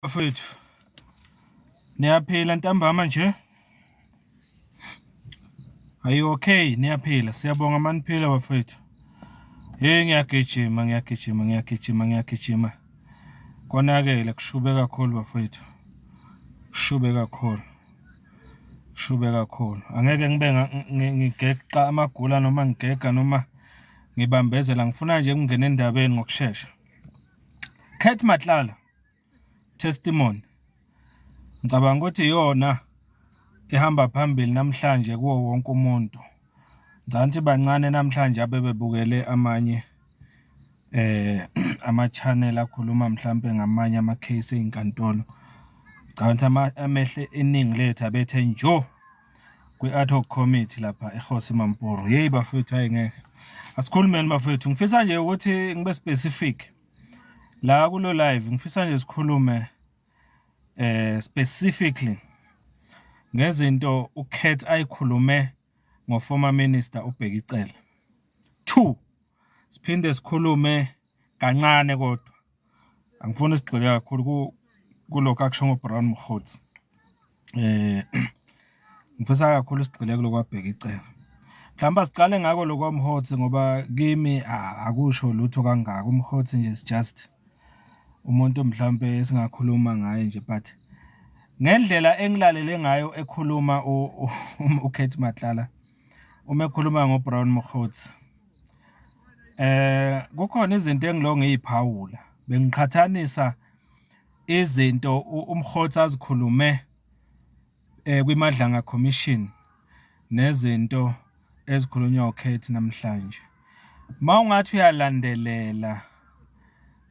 bafethu niyaphila ntambama nje ayi okay niyaphila siyabonga maniphila bafethu hey ngiyagijima ngiyagijima ngiyagijima ngiyagijima konakele kushube kakhulu bafethu kushube kakhulu shube kakhulu angeke ngibe ngigeqa amagula noma ngigega noma ngibambezela ngifuna nje ukungena endabeni ngokushesha Cat Matlala testimony ngicabanga ukuthi iyona ehamba phambili namhlanje kuwo wonke umuntu ngicabanga bancane namhlanje abebebukele amanye eh ama-channel akhuluma mhlampe ngamanye ama-case ey'nkantolo ngicabanga ukuthi amehle iningi lethu abethe njo kwi-ad hoc committee lapha ehosi mamporo yeyi bafowethu hayi ngeke asikhulumeni bafowethu ngifisa nje ukuthi ngibe specific la kulo live ngifisa nje sikhulume eh specifically ngezinto uKat ayikhulume ngoformer minister uBhekicela 2 siphinde sikhulume kancane kodwa angifuni sigxile kakhulu kulokho akusho ngoBrown Mkhothi eh ngifisa kakhulu sigcile kulokwabheka icebo mhlawumbe siqale ngako lokwamhotsi ngoba kimi akusho lutho kangaka umhotsi nje is just umuntu mhlawumbe singakhuluma ngaye nje but ngendlela engilalele ngayo ekhuluma uKate um, Matlala uma ekhuluma ngoBrown Mkhotsi eh kukhona izinto engilongiyiphawula bengiqhathanisa izinto umkhotha azikhulume eh, kwiMadlanga Commission nezinto ezikhulunywa ukhethi namhlanje ma ungathi uyalandelela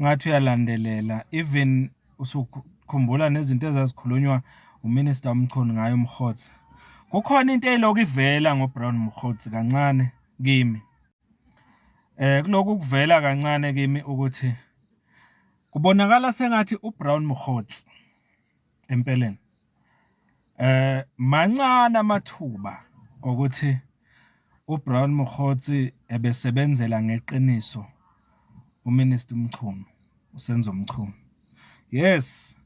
ngathi uyalandelela even usukhumbula nezinto ezazikhulunywa uminista umchunu ngayo umkhotha kukhona into eyiloku ivela ngobrown mkhotha kancane kimi Eh kuloku kuvela kancane kimi ukuthi kubonakala sengathi uBrown Mkhotsi empeleni eh mancane amathuba ukuthi uBrown Mkhotsi ebesebenzela ngeqiniso uMinister Mchunu uSenzo Mchunu yes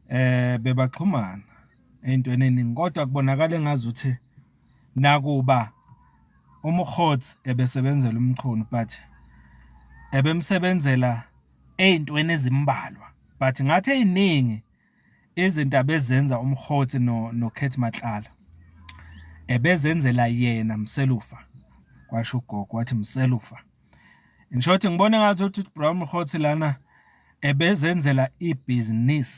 eh bebaxhumana eyintweni eningi kodwa kubonakala engazi ukuthi nakuba umkhothi ebesebenzela umchunu but ebemsebenzela eyintweni ezimbalwa but ngathi eyiningi izindaba ezenza umhoti no noKhethi Matlala ebezenzela yena mselufa kwasho ugogo wathi mselufa in short ngibona ngathi uthi Brown Mhoti lana ebezenzela ibusiness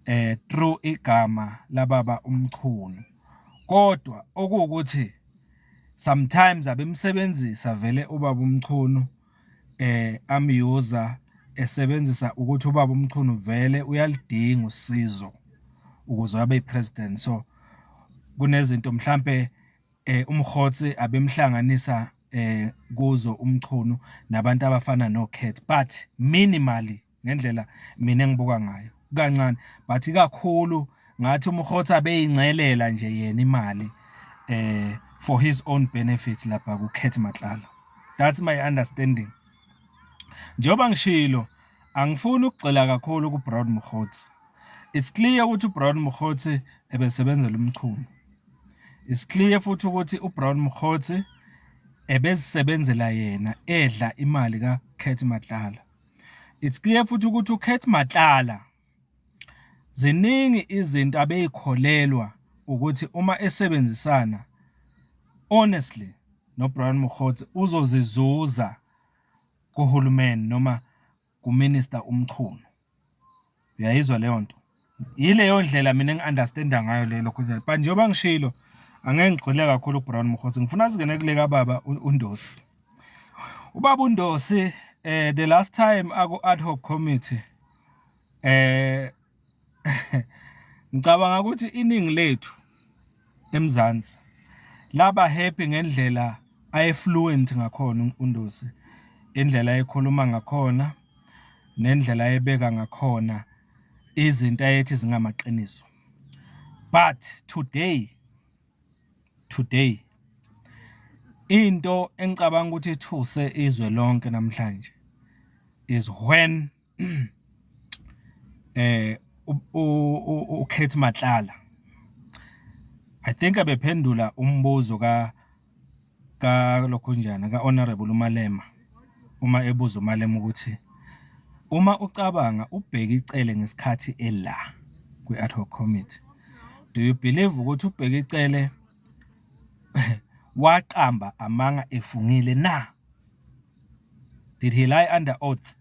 eh through igama lababa umchunu kodwa okuwukuthi sometimes abemsebenzisa vele ubaba umchunu eh am user esebenzisa ukuthi ubaba umchunu vele uyalidinga usizo ukuze abe president so kunezinto mhlambe eh umkhotsi abemhlanganisa eh kuzo umchunu nabantu abafana no cat but minimally ngendlela mina engibuka ngayo kancane but ikakhulu ngathi umrhotha beyingcelela nje yena imali eh for his own benefit lapha ku Cat Matlala that's my understanding njoba ngishilo angifuni ukugxila kakhulu ku Brown Mkhotsi it's clear ukuthi uBrown Mkhotsi ebesebenzela umchunu it's clear futhi ukuthi uBrown Mkhotsi ebesebenzela yena edla imali ka Cat Matlala it's clear futhi ukuthi uKhethi Matlala ziningi izinto abeyikholelwa ukuthi uma esebenzisana honestly noBrian Mokgotsi uzozizuza kuhulumeni noma kuminister uMchunu uyayizwa leyo nto yileyo ndlela mina engi-understanda ngayo leyo lokho njalo but njengoba ngishilo angeke ngigxile kakhulu ubrown mkhosi ngifuna singene kule kababa undosi ubaba undosi um the last time aku-ad hoc committee um ngicabanga ukuthi iningi lethu emzansi laba happy ngendlela ayefluent ngakhona undosi indlela ayekhuluma ngakhona nendlela ayebeka ngakhona um izinto ayethi zingamaqiniso but today today into engicabanga ukuthi ithuse izwe lonke namhlanje is when eh uKhethi Matlala I think abephendula umbuzo ka kalokhunjana ka-honorable umalema uma ebuza umalema ukuthi uma ucabanga ubheke icele ngesikhathi ela kwi-ad hoc committee do you believe ukuthi ubheke icele waqamba amanga efungile na did he lie under oath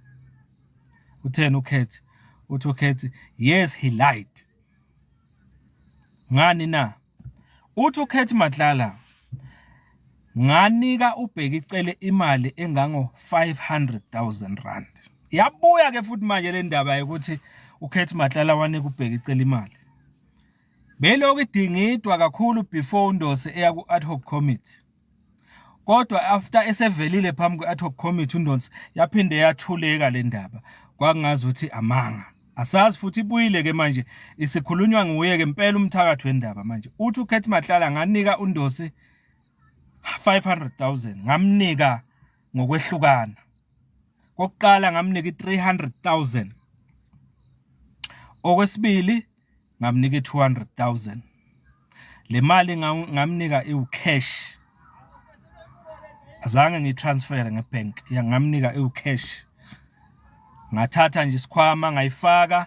utheni ukhethi uthi ukhethi yes he lied ngani na Uthi uKhethi Matlala nganika ubheki icele imali engango 500,000 rand. Yabuya ke futhi manje le ndaba yokuthi uKhethi Matlala wanika ubheki icele imali. Belokhu idingidwa kakhulu before uNdose eya ku-ad hoc committee. kodwa after esevelile phambi kwe ad hoc committee undonsi yaphinde yathuleka le ndaba kwakungazi ukuthi amanga asazi futhi ibuyile ke manje isikhulunywa nguye ke impela umthakathi wendaba manje uthi ukhethi mahlala nganika undosi 500000 ngamnika ngokwehlukana kokuqala ngamnika i300000 okwesibili ngamnika i-200000 le mali ngamnika iwucash azange ngitransfere ngebank yangamnika iwucash ngathatha nje isikhwama ngayifaka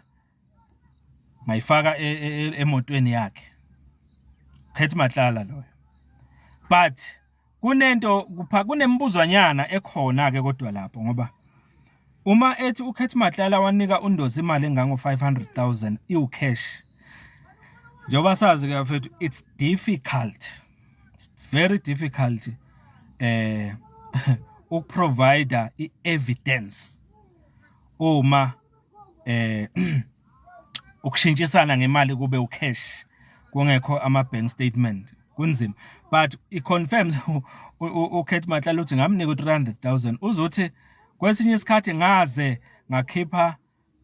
ngayifaka e, e, e, emotweni yakhe Khethi Matlala loyo but kunento kupha kunembuzwanyana ekhona ke kodwa lapho ngoba uma ethi uKhethi Matlala wanika uNdozi imali engango 500000 iwu cash njengoba sazi ke mfethu it's difficult it's very difficult eh ukuprovider i-evidence uma eh ukushintshisana ngemali kube ucash kungekho ama bank statement kunzima but i confirms uKate Matlala uthi ngamnika u300000 uzothi kwesinye isikhathi ngaze ngakhipha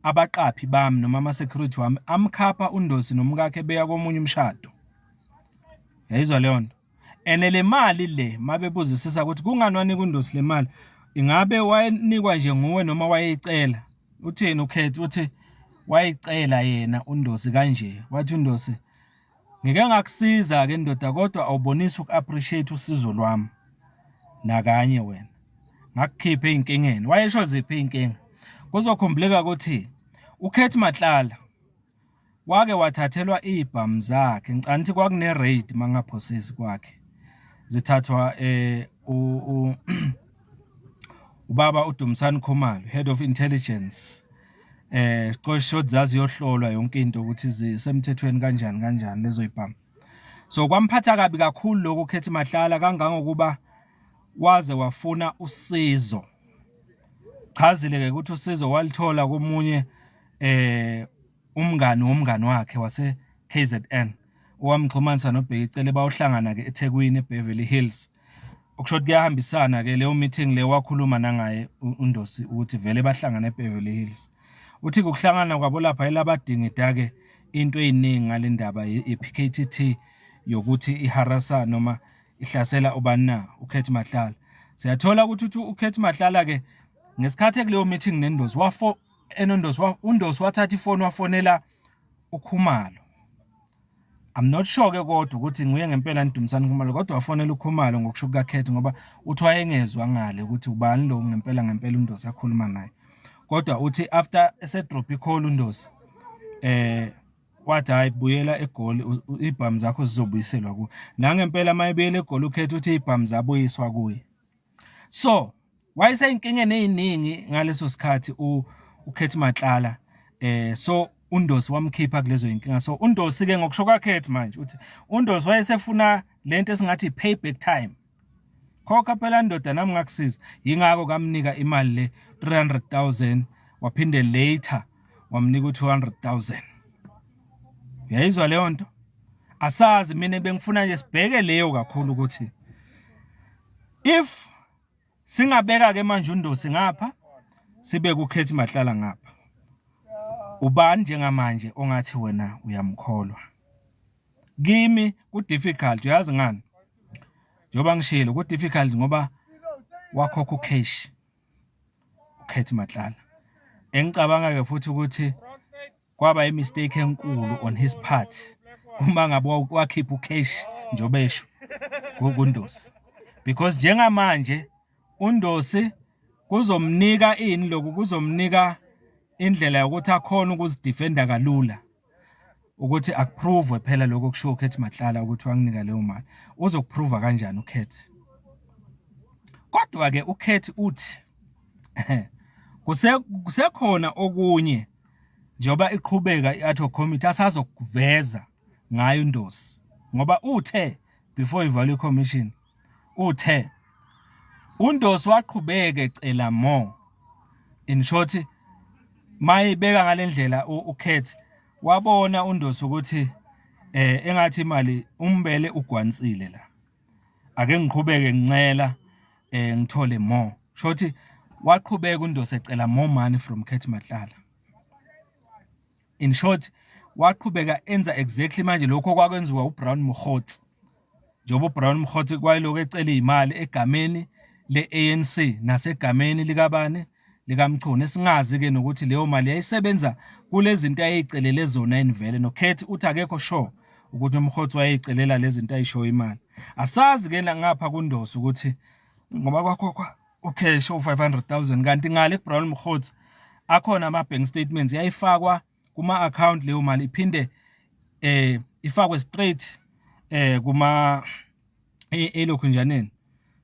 abaqaphi bami noma ama security wami amkhapha undosi nomkakhe beya komunye umshado yayizwa leyo nto ene le mali le mabebuzisisa ukuthi kungani wanika undosi le mali ingabe wayenikwa nje nguwe noma wayeyicela utheni ukhethi uthi wayicela yena undosi kanje wathi undosi ngike ngakusiza ke ndoda kodwa awubonisi uku-appreciate usizo lwami nakanye wena ngakukhipha ey'nkingeni wayesho ziphi iy'nkinga kuzokhumbuleka ukuthi ukhethi matlala wake wathathelwa iy'bhamu zakhe ngicani ukuthi kwakune-raid uma ngingaphosisi kwakhe zithathwa um ubaba udumisani khumalo head of intelligence eh qosho zazi yohlolwa yonke into ukuthi zisemthethweni kanjani kanjani lezo ibhamu so kwamphatha kabi kakhulu lokho khethi mahlala kangangokuba waze wafuna usizo chazile ke ukuthi usizo walithola komunye eh umngani womngani wakhe wase KZN owamxhumanisa noBheki Cele bawuhlangana ke eThekwini eBeverly Hills okusho ukuthi kuyahambisana ke leyo meeting le wakhuluma nangaye uNdosi ukuthi vele bahlangana eBeverly Hills uthi ukuhlangana kwabo lapha elabadingida ke into eyiningi ngalendaba yePKTT yokuthi iharasa noma ihlasela ubani na ukhethi mahlala siyathola ukuthi uthi ukhethi mahlala ke ngesikhathi ekuleyo meeting nendosi wafo enondosi undosi wathatha ifoni wafonela ukhumalo I'm not sure ke kodwa ukuthi nguye ngempela nidumisana ukhumalo kodwa wafonela ukhumalo ngokusho kukakhethi ngoba uthi wayengezwa ngale ukuthi ubani lo ngempela ngempela undosi akhuluma naye kodwa uthi after esedrop icall undosi eh wathi hayi buyela egoli ibhamu zakho zizobuyiselwa kuwe nangempela mayebuyela egoli ukhetha ukuthi ibhamu zabuyiswa kuye so wayeseyinkingeni eziningi ngaleso sikhathi u ukhethi matlala eh so undosi wamkhipha kulezo inkinga so undosi ke ngokusho kwakhethi manje uthi undosi wayesefuna lento esingathi payback time khokha phela ndoda nami ngakusiza yingakho kamnika imali le 300000 waphinde later wamnika u200000 uyayizwa leyo nto asazi mina bengifuna nje sibheke leyo kakhulu ukuthi if singabeka ke manje undosi ngapha sibe kukhethi mahlala ngapha ubani njengamanje ongathi wena uyamkholwa kimi ku difficult uyazi ngani njengoba ngishilo ku difficult ngoba wakhokha ucash ukhethi mahlala engicabanga ke futhi ukuthi kwaba i mistake enkulu on his part uma ngabe wakhipha ucash njobe esho kundosi because njengamanje undosi kuzomnika ini lokhu kuzomnika indlela yokuthi akhona ukuzidefenda kalula ukuthi akuprove phela lokho kushiwo ukhethi mahlala ukuthi wanginika leyo mali uzokuprova kanjani ukhethi kodwa-ke ukhethi uthi kusekhona okunye njengoba iqhubeka i-ad hoc committee asazokuveza ngayo indosi ngoba uthe before ivalwe commission uthe undosi waqhubeke cela more in short mayibeka ngalendlela ukhethi wabona undosi ukuthi eh engathi imali umbele ugwansile la ake ngiqhubeke ngincela eh ngithole more shothi waqhubeka uNdosi ecela more money from Kate Matlala in short waqhubeka enza exactly manje lokho kwakwenziwa uBrown Mkhotsi njengoba uBrown Mkhotsi kwayiloko ecela imali egameni leANC nasegameni likabani likaMchunu esingazi ke nokuthi leyo mali yayisebenza kulezinto ayeyicelele zona enivele noKhethi uthi akekho sure ukuthi umhotsi wayeyicelela lezinto ayisho imali asazi ke ngapha kundoso ukuthi ngoba kwakhokhwa ucash u500000 kanti ngale kuBrown Mhotsi akhona ama bank statements yayifakwa kuma account leyo mali iphinde eh ifakwe straight eh kuma elokhu njaneni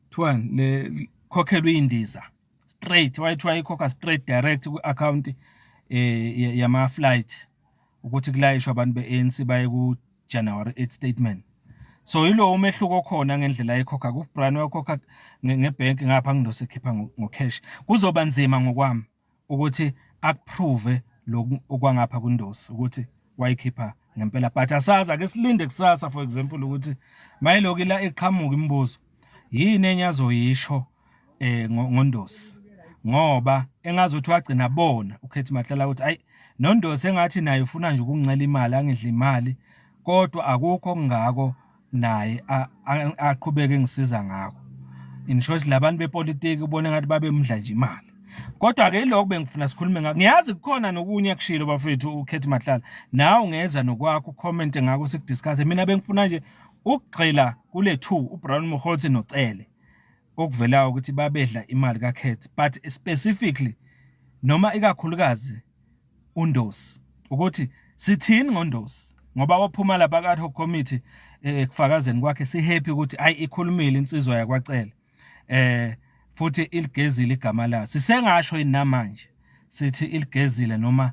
kuthiwani le khokhelwe indiza straight wayethi wayikhokha straight direct kwi-account eh yama flight ukuthi kulayishwa abantu beANC baye ku January 8 statement so yilo umehluko khona ngendlela ayikhokha ku Brian wakhokha ngebank ngapha ngindose khipha ngo cash kuzoba nzima ngokwami ukuthi akuprove lokhu okwangapha kundosi ukuthi wayikhipha ngempela but asazi ake silinde kusasa for example ukuthi mayilokhu la iqhamuka imibuzo yini enye azoyisho eh ngondosi ngoba engazothi wagcina bona ukhethi mahlala ukuthi ayi nondosi engathi naye ufuna nje ukuncela imali angidla imali kodwa akukho okungako naye aqhubeke ngisiza ngakho in short labantu bepolitiki ubona ngathi babemdla nje imali kodwa ke ilokho bengifuna sikhulume ngakho ngiyazi kukhona nokunye akushilo bafethu ukhethi mahlala nawe ungeza nokwakho ucomment ngakho sikudiscuss mina bengifuna nje ukugxila kule two uBrown Mokgotsi noCele okuvelayo ukuthi babedla imali kaCat but specifically noma ikakhulukazi uNdosi ukuthi sithini ngoNdosi ngoba waphuma lapha ka-ad hoc committee eh, ekufakazeni kwakhe sihappy ukuthi ayi ikhulumile insizwa yakwacele eh futhi iligezile igama layo sisengasho inamanje sithi iligezile noma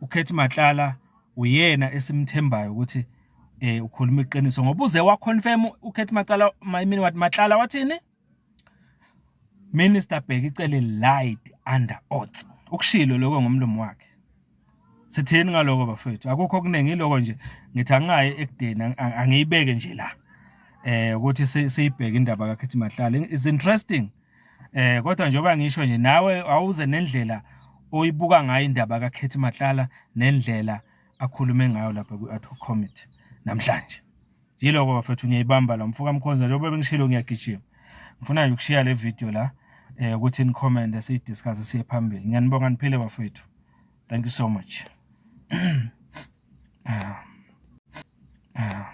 ukhethi matlala uyena esimthembayo ukuthi eh ukhuluma iqiniso ngoba uze wa confirm ukhethi matlala mayimini wathi matlala wathini minister bheki icele lied under oath ukushilo lokho ngomlomo wakhe sithini ngaloko bafethu akukho okuningi iloko nje ngithi angingayi ekudeni angiyibeke nje la eh ukuthi siyibheke indaba kakhethi mahlala is interesting eh kodwa njengoba ngisho nje nawe awuze nendlela oyibuka ngayo indaba kakhethi mahlala nendlela akhulume ngayo lapha kwi-ad hoc committee namhlanje yiloko bafethu ngiyayibamba la mfoka mkhonza njengoba bengishilo ngiyagijima ngifuna nje ukushiya le video la eh ukuthi ni comment siyidiscuss siye phambili ngiyanibonga niphile bafethu thank you so much ah. Ah.